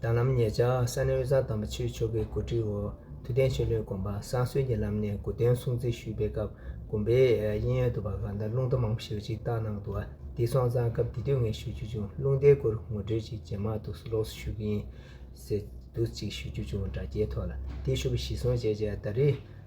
དང་ལམ་ཉེ་ཆར་ས་གནས་དབུས་གཙང་དམ་པ་ཆོས་མཆོག་གི་གོ་སྒྲིག་འོག་དུས་གཏན་ཆོས་ལུགས་དགོན་པ་བསང་གསོལ་གྱི་ལམ་ནས་དགོས་དོན་སྲུང་བརྩི་ཞུས་པའི་སྐབས་དགོན་པའི་དབྱིན་ཡོལ་དུ་བ་ག་དང་རླུང་རྟ་མང་པོ་ཞིག་གཅིག་བཏགས་གནང་འདུག་བ་འདི་སོང་ཙང་སྐབས་དེ་དུས་ངས་ཞུ་རྒྱུ་བྱུང་རླུང་རྟའི་སྐོར་ངོ་སྤྲོད་ཅིག་རྗེས་མར་དུ་ལོགས་སུ་ཞུ་གི་ཡིན། ཟེར་འདུག་ཅིག་ཞུ་རྒྱུ་བྱུང་དྲ་རྒྱའི་ཐོག་ལ་དེ་ཞུ་བ་གཞི་བཟུང་བྱས་རྗེས་ད་རེས་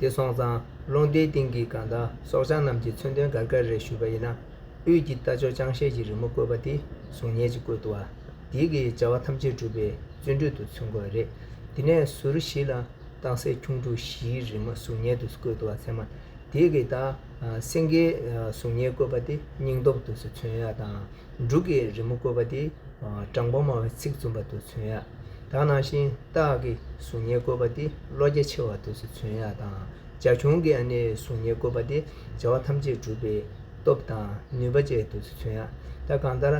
དེ་སོང་ཙང་ཀློང་རྡལ་སྟེང་གི་དགའ་ཟླ་སྲོག་ཆགས་རྣམས་ཀྱི་མཚོན་དོན་འགར་འགར་རེ་ཞུས་པ་ཡིན་ན། དབུས་ཀྱི་རྟ་མཆོག་ཅང་ཤེས་ཀྱི་རི་མོ་བཀོད་པ་དེ་གཟུགས་བརྙན་གྱི་བཀོད་བཏུ་བ། དེའི་གི་བྱ་བ་ཐམས་ཅད་གྲུབ་པའི་བརྩོན་འགྲུས་དུ་མཚོན་དགོས་པ་རེད། དེ་ནས་ཟུར་བཞི་ལ་རྟགས་གསལ་ཁྱུང་ཕྲུག་བཞིའི་རི་མོ་གཟུགས་བརྙན་དུ་བཀོད་བཏུ་བ་ཚད་མ། དེའི་གི་ད་སེང་གེའི་གཟུགས་བརྙན་བཀོད་པ་དེ་སྙིང་སྟོབས་དུ་མཚོན་ཡ་དང། འབྲུག་གི་རི་མོ་བཀོད་པ་དེ་དྲང་པོ་སྨྲ་བའི་ཚིག་རྩོམ་པ་དུ་མཚོན་ཡག་དག་ནང་བཞིན་སྟག་གི་གཟུགས་བརྙན་བཀོད་པ་དེ་བློ་རྒྱ་ཆེ་བ་དུ་མཚོན་ཡག་དང་རྒྱ་གཞུང་གི་ཨ་ནེའི་གཟུགས་བརྙན་བཀོད་པ་དེ་བྱ་བ་ཐམས་ཅད་གྲུབ་པའི་སྟོབས་དང་ནུས་པ་བཅས་དུ་མཚོན་ཡག་དག་གང་ལྟར།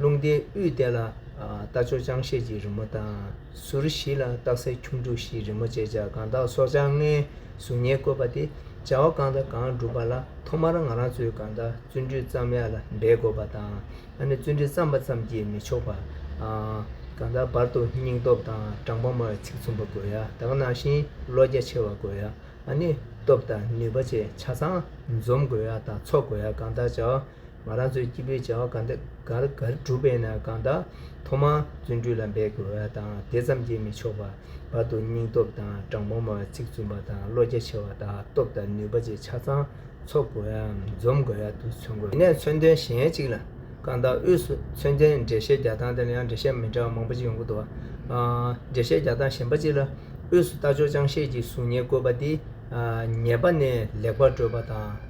ལུང་བསྟན་དབུས་བསྟན་ལ་རྟ་མཆོག་ཅང་ཤེས་ཀྱི་རི་མོ་དང། ཟུར་བཞི་ལ་སྟག་སེར་ཁྱུང་འབྲུག་བཞིའི་རི་མོ་བཅས་བྱ་གང་དག་སྲོག་ཆགས་ལྔའི་གཟུགས་བརྙན་བཀོད་པ་སྟེ་བྱ་བ་གང་དང་གང་བསྒྲུབ་པ་ལ་ཐོག་མར་ང་རང་ཚོས་གང་དག་བརྩོན་འགྲུས་བརྩམ་ཡག་ལ་འབད་དགོས་པ་དང། ད་ནི་བརྩོན་འགྲུས་བརྩམས་པ་ཙམ་གྱིས་མི་ཆོག་པ། གང་དག་བར་དུ་སྙིང་སྟོབས་དང་དྲང་པོ་སྨྲ་བའི་ཚིག་མཚུངས་པ་དགོས་ཡ་དག་ནང་བཞིན་བློ་རྒྱ་ཆེ་བ་དགོས་ཡ། ནི་སྟོབས་དང་ནུས་པ་བཅས་ཆ་ཚང་འཛོམས་དགོས་ཡ་དང་ཚོགས་དགོས་ཡ་གང་དག་བྱ་བ་ང་རང་ཚོའི་སྐྱེས་བུའི་བྱ་བ་འགའ་རེ་བསྒྲུབ་པས་ན་གང་དག་ཐོག་མར་བརྩོན་འགྲུས་ལ་འབད་དགོས་པ་དང་དེ་ཙམ་གྱིས་མི་ཆོག་པར་བར་དུ་སྙིང་སྟོབས་དང་དྲང་པོ་མོའི་ཚིག་བཙུན་པ་དང་བློ་རྒྱ་ཆེ་བ་དག་སྟོབས་དང་ནུས་པ་བཅས་ཆ་ཚང་ཚོགས་དགོས་ཡའམ་འཛོམས་དགོས་ཡ་དུ་མཚོན་དགོས། དེ་ནས་མཚོན་དོན་གཞན་གཅིག་ལ། གང་དག་དབུས་སུ་མཚོན་དོན་འགྲེལ་བཤད་རྒྱག་སྟངས་དེར་ཡང་འགྲེལ་བཤད་མི་འདྲ་བ་མང་པོ་ཅིག་ཡོང་གི་འདུག་བ། འགྲེལ་བཤད་རྒྱག་སྟངས་གཞན་པ་གཅིག་ལ། དབུས་སུ་རྟ་མཆོག་ཅང་ཤེས་ཀྱི་གཟུགས་བརྙན་བཀོད་པ་འདི། ཉེས་པ་ནས་ལེགས་པར་བཀྲོལ་བ་དང།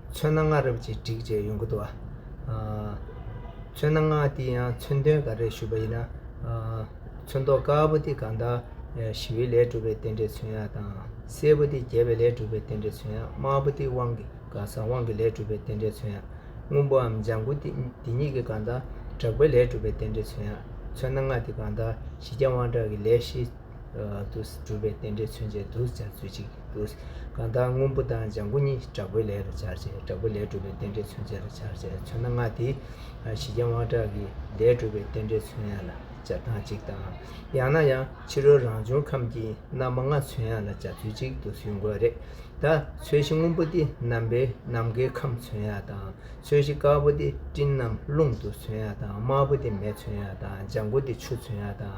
ཚོན་སྣ་ལྔ་རབ་ཅིག་བྲིས་བྱས་ཡུངས་ཀྱི་དུ་བ། ཚོན་སྣ་ལྔ་འདི་ཡང་མཚོན་དོན་འགའ་རེར་ཞུགས་པ་ཡིན་ན། ཚོན་མདོག་དཀར་པོ་འདི་གང་དག་ཞི་བའི་ལས་གྲུབ་པའི་རྟེན་འབྲེལ་ཚོན་ཡག་དང། སེར་པོ་འདི་རྒྱས་པའི་ལས་གྲུབ་པའི་རྟེན་འབྲེལ་ཚོན་ཡག་དམར་པོ་འདི་དབང་གི་དགའ་ས་དབང་གི་ལས་གྲུབ་པའི་རྟེན་འབྲེལ་ཚོན་ཡག་སྔོན་པོའམ་ལྗང་གུ་འདི་གཉིས་ཀྱི་གང་དག་དྲག་པའི་ལས་གྲུབ་པའི་རྟེན་འབྲེལ་ཚོན་ཡག་ཚོན་སྣ་ལྔ་འདི་གང་དག་ཞི་རྒྱ་དབང་དྲག་གི་ལས་ཞི། དུ། གྲུབ་པའི་རྟེན་འབྲེལ་མཚོན་བྱེད་དུ་སྦྱར་ཚུལ་གཅིག་དུ། གང་དག་སྔོན་པོ་དང་ལྗང་གུ་གཉིས་དྲག་པོའི་ལས་ལ་སྦྱར་བྱས་དྲག་པོའི་ལས་གྲུབ་པའི་རྟེན་འབྲེལ་མཚོན་བྱེད་ལ་སྦྱར་བྱས་མཚོན་ན་སྔ་དེའི་ཞི་རྒྱས་དབང་དྲག་གི་ལས་གྲུབ་པའི་རྟེན་འབྲེལ་མཚོན་ཡང་ལ་སྦྱར་སྟངས་གཅིག་དང། ཡང་ན་ཡང་ཕྱི་རོལ་རང་བྱུང་ཁམས་ཀྱི་རྣམ་པ་ལྔ་མཚོན་ཡང་ལ་སྦྱར་ཚུལ་གཅིག་དུ་ཟུས་དགོས་རེད། ད་ཚོས་གཞི་སྔོན་པོ་སྟེ་ནམ་པའི་ནམ་མཁའི་ཁམས་མཚོན་ཡང་དང་ཚོས་གཞི་དཀར་པོ་སྟེ་སྤྲིན་ནམ་རླུང་དུ་མཚོན་ཡང་དང་དམར་པོ་སྟེ་མེ་མཚོན་ཡང་དང་ལྗང་གུ་སྟེ་ཆུ་མཚོན་ཡང་དང།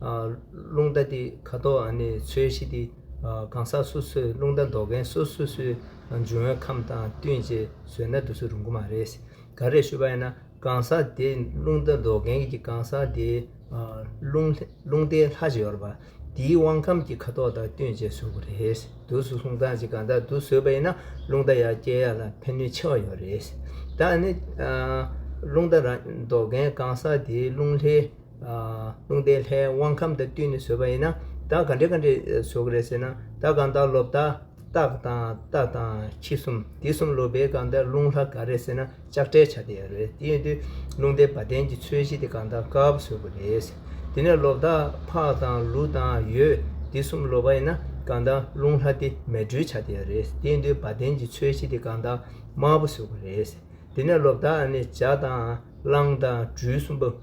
རླུང་རྟ་འདི་ཁ་དོག་ནི་ཚོས་གཞི་སྟེ། གང་ཟག་སོ་སོས་རླུང་རྟ་འདོགས་མཁན་སོ་སོ་སོའི་འཇུ་བོན་ཁམས་དང་བསྟུན་རྗེས་བཟོས་ན་དུས་ཚོད་རིང་པོ་མ་རེད། ག་རེ་ཞུ་བ་ཡིན་ན་གང་ཟག་དེ་རླུང་རྟ་འདོགས་མཁན་གྱི་གང་ཟག་དེའི་རླུང་རྟའི་ལྷ་ཞིག་ཡོད་པ་དེའི་དབང་ཁམས་ཀྱི་ཁ་དོག་དང་བསྟུན་རྗེས་བཟོས་པ་རེད། དུས་སུ་ལྷུང་སྟངས་ཀྱིས་གང་ཟག་དུས་བཟོས་པ་ཡིན་ན་རླུང་རྟ་ཡར་སྐྱེལ་ཡག་ལ་ཕན་ནུས་ཆེ་བ་ཡོད་རེད། ད་ནི་རླུང་རྟ་རང་འདོགས་མཁན་གང་ཟག་དེའི་རླུང་ལྷའི་དགོངས་ཟླའི་ལྷའི་དབང་ཁམས་དང་བསྟུན་ནས་བཟོས་པ་ཡིན་ན་བདག་ག་འདྲས་ག་འདྲས་བཟོ་གི་རེད་ཟེར་ན་བདག་གང་དག་ལོ་བདག་རྟགས་དང་རྟ་དང་ཁྱི་གསུམ་དེ་གསུམ་ལོ་བས་གང་དག་རླུང་ལྷ་ག་རེད་ཟེར་ན་ལྕགས་སྤྲེལ་བྱ་དེ་རེད་དེ་ཡིན་དུས་རླུང་ལྡན་བ་ལྡན་གྱི་ཚོས་གཞི་དེ་གང་དག་སྐབས་བཟོ་གི་རེད་ཟེར་དེ་ནས་ལོ་བདག་ཕག་དང་ལུག་དང་ཡོས་དེ་གསུམ་ལོ་བ་ཡིན་ན་གང་དག་རླུང་ལྷ་དེ་མལ་སྦྲུལ་བྱ་དེ་རེད་དེ་ཡིན་དུས་བ་ལྡན་གྱི་ཚོས་གཞི་དེ་གང་དག་དམར་པོ་བཟོ་གི་རེད་ཟེར་དེ་ནས་ལོ་བདག་ནི་བྱ་དང་གླང་དང་སྦྲུལ་གསུམ་པོ།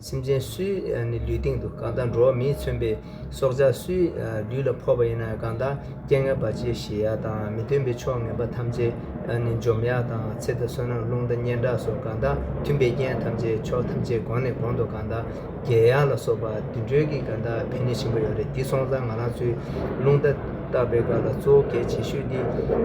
སེམས་ཅན་སུའི་ནི་ལུས་སྟེང་དུ་གང་དག་འགྲོ་བ་མིས་མཚོན་པའི་སྲོག་ཆགས་སུའི་ལུས་ལ་ཕོག་པ་ཡིན་ན་གང་དག་སྐྱེ་ངན་བར་ཆད་ཞི་ཡག་དང་མི་མཐུན་པའི་ཕྱོགས་ངན་པ་ཐམས་ཅད་ནི་འཇོམས་ཡག་དང་ཚེ་དང་བསོད་ནམས་རླུང་དང་སྙན་གྲགས་སོགས་གང་དག་མཐུན་པའི་རྐྱེན་ཐམས་ཅད་ཕྱོགས་ཐམས་ཅད་གོང་ནས་གོང་དུ་གང་དག་རྒྱལ་ཡག་ལ་སོགས་པ་དུད་འགྲོའི་གིས་གང་དག་ཕན་ནུས་ཆེན་པོ་ཡོད་རེ་འདི་སོང་ཙང་ང་རང་ཚོའི་རླུང་རྟ་བཏགས་པའི་སྐབས་ལ་གཙོ་བོ་གལ་ཆེ་ཤོས་འདི་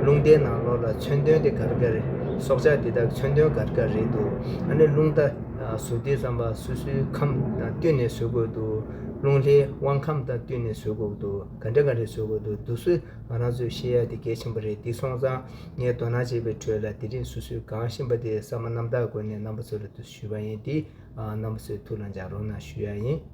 རླུང་རྟའི་ནང་ལོགས་ལ་མཚོན་དོན་དེ་གར་དགའ་རེད་སྲོག་ཆགས་འདི་དག་མཚོན་དོན་གར་དགའ་རེད་འདུག་ཨ་ནི་རླུང་རྟ། གཟུགས་སྡེའི་བསམ་པ་སོ་སོའི་ཁམས་དང་བསྟུན་ནས་བཟོད་དགོས་འདུག་རླུང་ལྷའི་དབང་ཁམས་དང་བསྟུན་ནས་བཟོད་དགོས་འདུག་ག་འདྲ་ག་རེ་བཟོད་དགོས་འདུག་འདུག་སོས་ང་རང་ཚོས་ཤེས་ཡ་དེ་གལ་ཆེན་པོ་རེད་འདི་སོང་ཙང་ངས་དོ་སྣང་བྱས་པའི་ཁྲོད་ལ་དེ་རིང་སོ་སོས་གང་ཤེས་པ་དེ་གསར་མ་རྣམ་དག་སྒོ་ནས་རྣམ་པ་ཚོ་ལ་དུ་ཞུས་པ་ཡིན་འདི་རྣམ་པ་ཚོའི་ཐུགས་ལ་འཇགས་རོགས་གནང་ཞུ་ཡ་ཡིན།